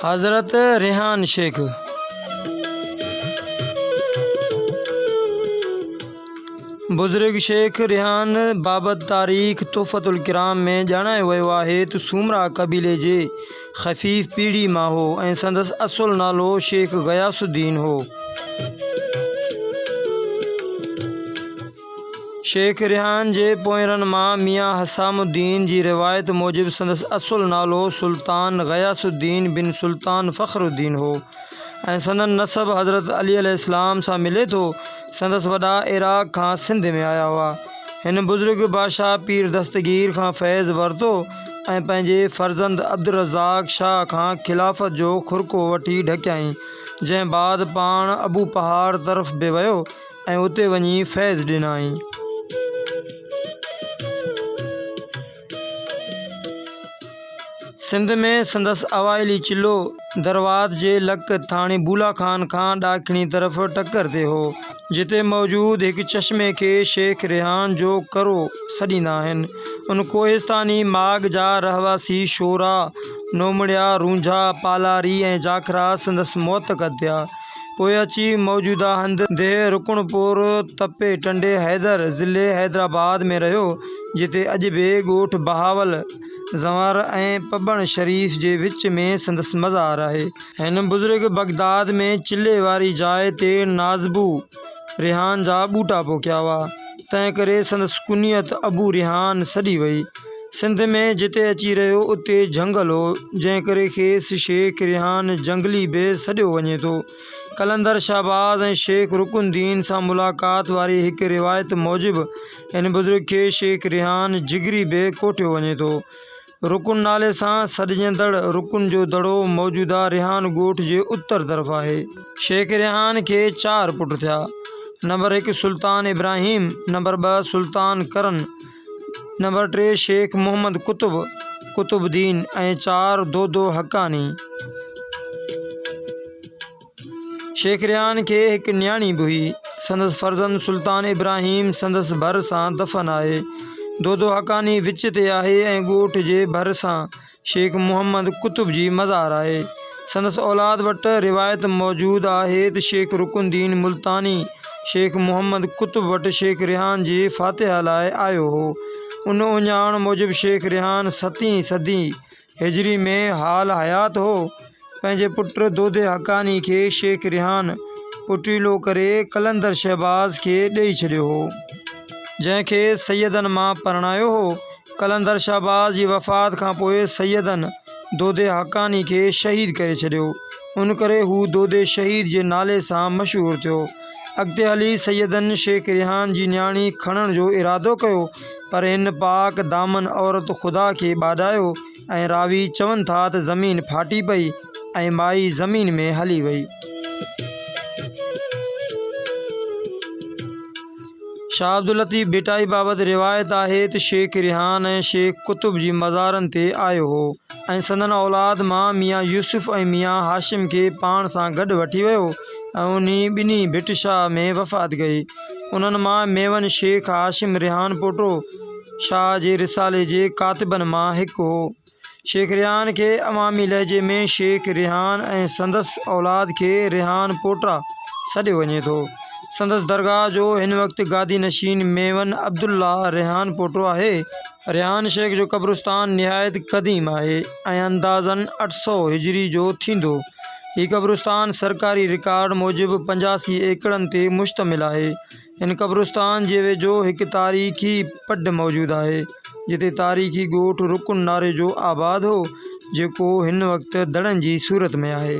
حضرت ريحان شيخ بزرگ شيخ ريحان بابت تاريخ تحفت الڪرام ۾ ڄاڻايو ويو آهي ته سومرا قبيلي جي خفيف پيڙهي مان هو ۽ سندس اصل نالو شيخ غياث الدين هو شيخ ريحان جي پوئرن مان ميان حسام الدين جي روايت موجب سندس اصل نالو سلطان غياث الدين بن سلطان فخر الدين هو ۽ سندن نسب حضرت علي عليه السلام سان ملي ٿو. سندس وڏا عراق کان سنڌ ۾ آيا هئا. هن بزرگ بادشاهه پير دستگير کان فيض ورتو ۽ پنهنجي فرزند عبدالرزاق شاهه کان خلافت جو خرقو وٺي ڍڪيائين، جنهن بعد پاڻ ابو پهاڙ طرف به ويو. ۽ اتي وڃي فيض ڏنائين. سنڌ ۾ سندس اوائلي چلو دروات جي لڪ ٿاڻي بولا خان کان ڏاکڻي طرف ٽڪر تي هو، جتي موجود هڪ چشمي کي شيخ ريحان جو ڪرو سڏيندا آهن. ان ڪوهستاني ماڳ جا رهواسي شورا، نومڙيا، رونجها، پالاري ۽ جاکرا سندس معتقد ٿيا. پوء اچي موجوده هنڌ ديهه رڪڻ پور تپي ٽنڊي حيدر ضلعي حيدرآباد ۾ رهيو، جتي اڄ به ڳوٺ بهاول زنور ۽ پٻڻ شريف جي وچ ۾ سندس مزار آهي. هن بزرگ بغداد ۾ چلهي واري جاء تي نازبو ريحان جا ٻوٽا پوکيا هئا، تنهنڪري سندس ڪنيت ابو ريحان سڏي وئي. سنڌ ۾ جتي اچي رهيو اتي جهنگل هو جنهن ڪري کيس شيخ ريحان جهنگلي به سڏيو وڃي ٿو. قلندر شهباز ۽ شيخ رڪن الدين سان ملاقات واري هڪ روايت موجب هن بزرگ کي شيخ ريحان جگري به ڪوٺيو وڃي ٿو. رڪن نالي سان سڏجندڙ رڪن جو دڙو موجوده ريحان ڳوٺ جي اتر طرف آهي. شيخ ريحان کي چار پٽ ٿيا. نمبر هڪ سلطان ابراهيم، نمبر ٻه سلطان ڪرن، نمبر ٽي شيخ محمد قطب قطب الدين ۽ چار دودو حقاني شيخ ريان کي هڪ نياڻي به هئي سندس فرزند سلطان ابراهيم سندس ڀر سان دفن آهي دودو حقاني وچ تي آهي ۽ ڳوٺ جي ڀر سان شيخ محمد قطب جي مزار آهي. سندس اولاد وٽ روايت موجود آهي ته شيخ رڪن الدين ملتاني شيخ محمد قطب وٽ شيخ ريحان جي فاتحه لاء آيو هو. ان اهڃاڻ موجب شيخ ريحان ستين صدي هجري ۾ حال حيات هو. پنهنجي پٽ دودي حقاني کي شيخ ريحان پٽيلو ڪري قلندر شهباز کي ڏئي ڇڏيو هو، جنهن کي سيدن مان پرڻايو هو. قلندر شهباز جي وفات کان پوء سيدن دودي حقاني کي شهيد ڪري ڇڏيو، ان ڪري هو دودي شهيد جي نالي سان مشهور ٿيو. اڳتي هلي سيدن شيخ ريحان جي نياڻي کڻڻ جو ارادو ڪيو، پر هن پاڪ دامن عورت خدا کي ٻاڏايو، ۽ راوي چون ٿا ته زمين ڦاٽي پئي ۽ مائي زمين ۾ هلي وئي. شاهه عبداللطيف ڀٽائي بابت روايت آهي ته شيخ ريحان ۽ شيخ قطب جي مزارن تي آيو هو ۽ سندن اولاد مان ميان يوسف ۽ ميان هاشم کي پاڻ سان گڏ وٺي ويو ۽ انهي ٻنهي ڀٽ شاهه ۾ وفات ڪئي. انهن مان ميون شيخ هاشم ريحان پوٽو، شاهه جي رسالي جي ڪاتبن مان هڪ هو. شيخ ريحان کي عوامي لهجي ۾ شيخ ريحان ۽ سندس اولاد کي ريحان پوٽا سڏيو وڃي ٿو. سندس درگاهه جو هن وقت گادي نشين ميمن عبدالله ريحان پوٽو آهي. ريحان شيخ جو قبرستان نهايت قديم آهي ۽ اندازن اٺ سؤ هجري جو ٿيندو. هي قبرستان سرڪاري رڪارڊ موجب پنجاسي ايڪڙن تي مشتمل آهي. هن قبرستان جي ويجهو هڪ تاريخي پڊ موجود آهي، جتي تاريخي ڳوٺ رڪن ناريجو آباد هو، جيڪو هن وقت دڙن جي صورت ۾ آهي.